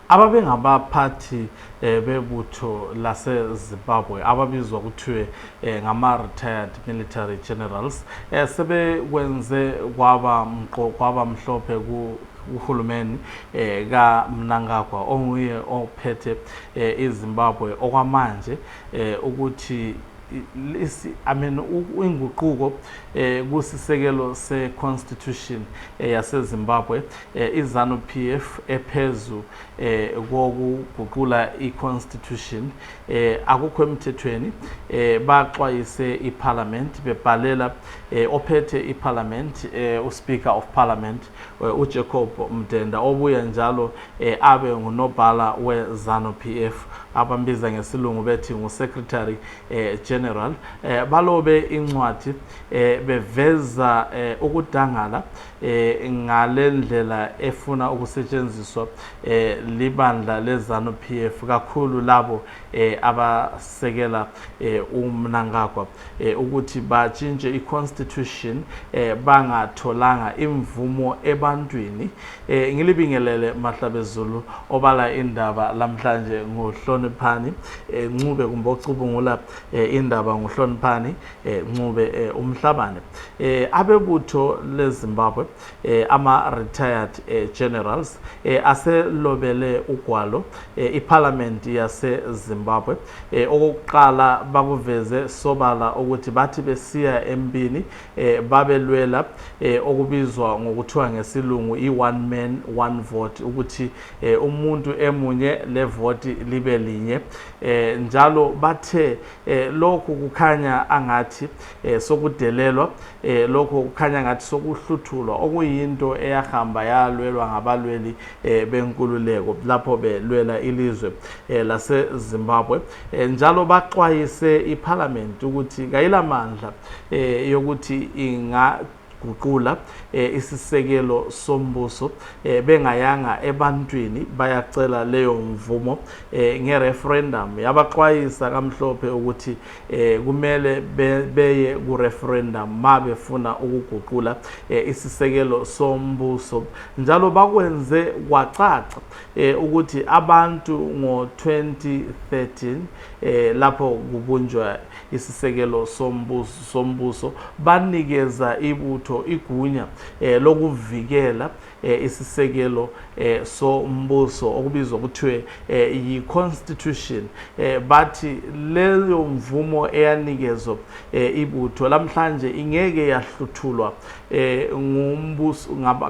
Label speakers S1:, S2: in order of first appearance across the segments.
S1: ababengabaphathi eh, bebutho lasezimbabwe ababizwa kuthiwe eh, ngama-retired military generals eh, sebekwenze kwaba mqo kwaba mhlophe uhulumeni eh, kamnangagwa onguye ophethe eh, izimbabwe okwamanje eh, ukuthi lesi i mean inguquko eh kusisekelo se constitution eh, yaseZimbabwe eh, izanu PF ephezu eh, kokuguqula i-constitution eh, akukho emthethweni eh, baxwayise iparliament bebhalela eh, ophethe iparliament eh, uspeaker of parliament eh, ujacob mdenda obuye njalo eh, abe ngunobhala wezanu PF abambiza ngesilungu bethi ngusecretary eh, general eh, balobe incwadi eh, beveza eh, ukudangala eh, ngale ndlela efuna ukusetshenziswa eh, libandla lezanu p f kakhulu labo eh, abasekela eh, umnangagwa eh, ukuthi batshintshe i-constitution eh, bangatholanga imvumo ebantwini eh, ngilibingelele mahlabezulu obala indaba lamhlanje nguhloniphani eh, ncube kumbe ocubungula eh, indaba nguhloniphani eh, Ncube eh, Umhlabane eh, abebutho leZimbabwe eh, ama retired eh, generals eh, aselobele ugwalo eh, iparliament yaseZimbabwe eh, okokuqala bakuveze sobala ukuthi bathi besiya empini eh, babelwela eh, okubizwa ngokuthiwa ngesilungu i one man one vote ukuthi eh, umuntu emunye levoti libe linye eh, njalo bathe eh, lokhu kukhanya angathi eh, sokudelelwa eh, lokhu kukhanya ngathi sokuhluthulwa okuyinto eyahamba yalwelwa ngabalweli eh, benkululeko lapho belwela ilizwe eh, lasezimbabwe eh, njalo baxwayise iphalamenti ukuthi kayilamandla eh, yokuthi inga guqula eh, isisekelo sombuso eh, bengayanga ebantwini bayacela leyo mvumo eh, ngereferendum yabaxwayisa kamhlophe ukuthi eh, kumele be, beye kureferendum ma befuna ukuguqula eh, isisekelo sombuso njalo bakwenze kwacaca eh, ukuthi abantu ngo-2013 eh, lapho kubunjwa isisekelo sombuso, sombuso banikeza ibutho igunya eh, lokuvikela eh, isisekelo eh, sombuso okubizwa kuthiwe eh, yi-constitution eh, bathi leyo mvumo eyanikezwa eh, ibutho lamhlanje ingeke yahluthulwa eh,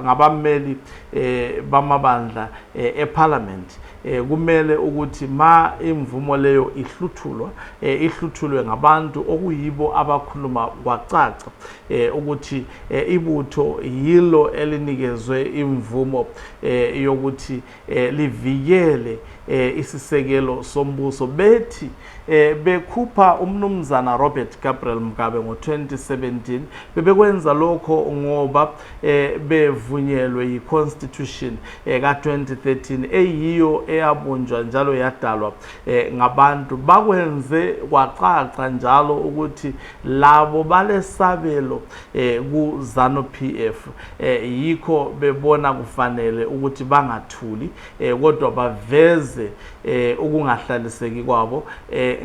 S1: ngabameli eh, bamabandla eh, ephalamenti eh, kumele ukuthi ma imvumo leyo ihluthulwa eh, ihluthulwe ngabantu okuyibo abakhuluma kwacaca eh, ukuthi eh, ibutho yilo elinikezwe imvumo eh, yokuthi eh, livikele eh, isisekelo sombuso bethi eh, bekhupha umnumzana Robert Gabriel Mugabe ngo-2017 bebekwenza lokho ngoba eh, bevunyelwe yi-constitution eka-2013 eyiyo eyabunjwa njalo yadalwa eh, ngabantu bakwenze kwacaca njalo ukuthi labo balesabelo eh, kuzanu p f eh, yikho bebona kufanele ukuthi bangathuli kodwa baveze ukungahlaliseki kwabo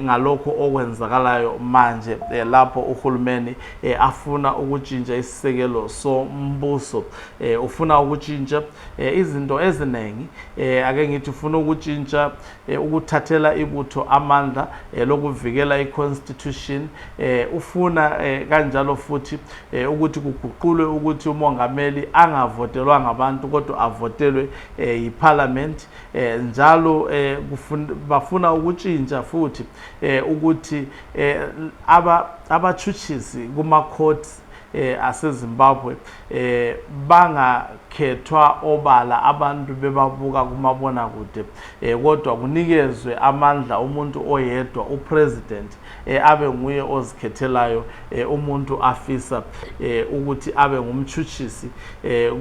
S1: ngalokho okwenzakalayo manje lapho uhulumeni afuna ukutshintsha isisekelo sombuso eh ufuna ukutshintsha eh, izinto eziningi eh, ake ngithi ufuna ukutshintsha eh, ukuthathela ibutho amandla eh, lokuvikela iconstitution eh, ufuna eh, kanjalo futhi eh, ukuthi kuguqulwe ukuthi umongameli angavotelwa ngabantu kodwa avotelwe eh, yiparliament eh, njalo eh, kufun, bafuna ukutshintsha futhi eh, ukuthi eh, aba abatshutshisi kuma courts eh, asezimbabwe eh, bangakhethwa obala abantu bebabuka kumabona kude eh, kodwa kunikezwe amandla umuntu oyedwa upresident eh, abe nguye ozikhethelayo eh, umuntu afisa eh, ukuthi abe ngumtshutshisi eh,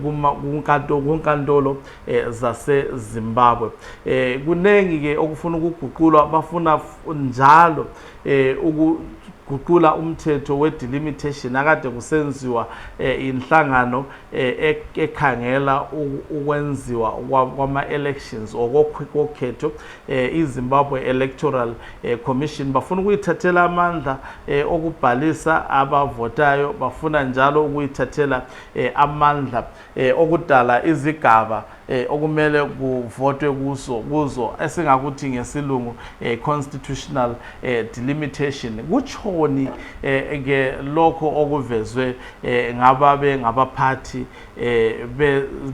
S1: kunkantolo eh, zasezimbabwe eh, kuningi-ke okufuna ukuguqulwa bafuna njalo eh ukuguqula umthetho we delimitation akade kusenziwa eh, inhlangano eh, ekhangela ukwenziwa kwama elections okokhetho eh, iZimbabwe Electoral eh, Commission bafuna ukuyithathela amandla eh, okubhalisa abavotayo bafuna njalo ukuyithathela eh, amandla eh, okudala izigaba eh, okumele kuvotwe kuso kuzo esingakuthi ngesilungu eh, constitutional eh, delimitation kutshoni eh, ke lokho okuvezwe eh, ngababe ngabaphathi eh,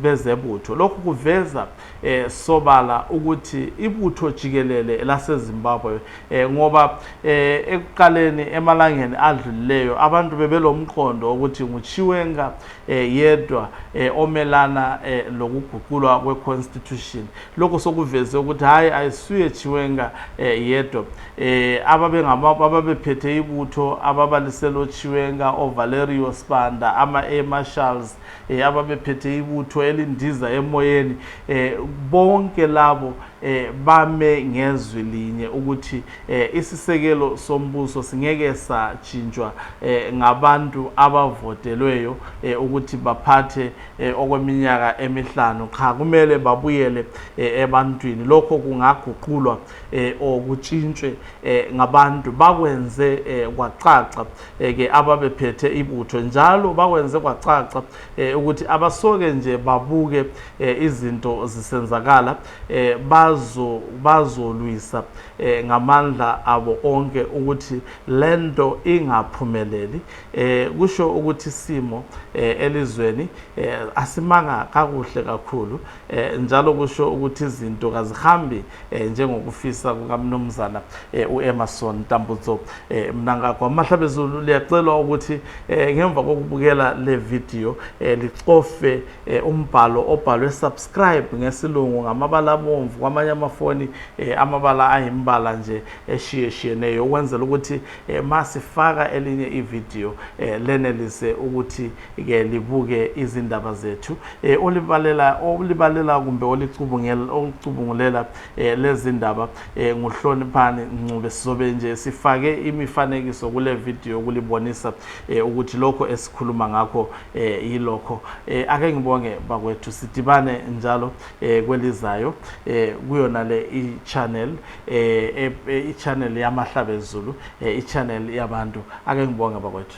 S1: bezebutho lokhu kuveza eh, sobala ukuthi ibutho jikelele lasezimbabwe eh, ngoba eh, ekuqaleni emalangeni adlulileyo abantu bebelomqondo ukuthi nguchiwenga eh, yedwa eh, omelana eh, lokuguqulwa kweconstitution lokho sokuveze ukuthi hhayi ayisuye chiwenga eh, yedwa eh, ababephethe ibutho ababaliselo chiwenga ovalerio spanda ama-air marshals eh, ababephethe ibutho elindiza emoyeni eh, bonke labo eh, bame ngezwi linye ukuthi eh, isisekelo sombuso singeke satshintshwa eh, ngabantu abavotelweyo eh, ukuthi baphathe eh, okweminyaka emihlanu cha kumele babuyele eh, ebantwini lokho kungaguqulwa eh, or kutshintshwe eh, ngabantu bakwenze eh, kwacaca eh, ke ababephethe ibutho njalo bakwenze kwacaca eh, ukuthi abasoke nje babuke eh, izinto zisenzakala eh bazo bazolwisa eh ngamandla abo onke ukuthi lento ingaphumeleli eh kusho ukuthi simo eh elizweni eh asimanga kakuhle kakhulu eh njalo kusho ukuthi izinto kazihambi eh njengokufisa kukamnumzana eh uEmmerson Tambutso eh mnanga kwamahla bezulu liyacelwa ukuthi eh ngemva kokubukela le video eh licofe eh, umbhalo obhalwe subscribe ngesilungu ngamabala abomvu kwamanye amafoni eh, amabala ayimbala nje eshiyeshiyeneyo ukwenzela ukuthi eh, masifaka elinye ividiyo eh, lenelise ukuthi ke libuke izindaba zethu eh, olibalela olibalela kumbe olicubungulela eh, lezindaba eh, nguhloniphani ncube sizobe nje sifake imifanekiso kule vidiyo kulibonisa eh, ukuthi lokho esikhuluma ngakho eh yilokho eh ake ngibonge bakwethu sidibane njalo eh kwelizayo eh kuyona le i-channel eh i-channel yamahlabezulu eh i-channel yabantu ake ngibonge bakwethu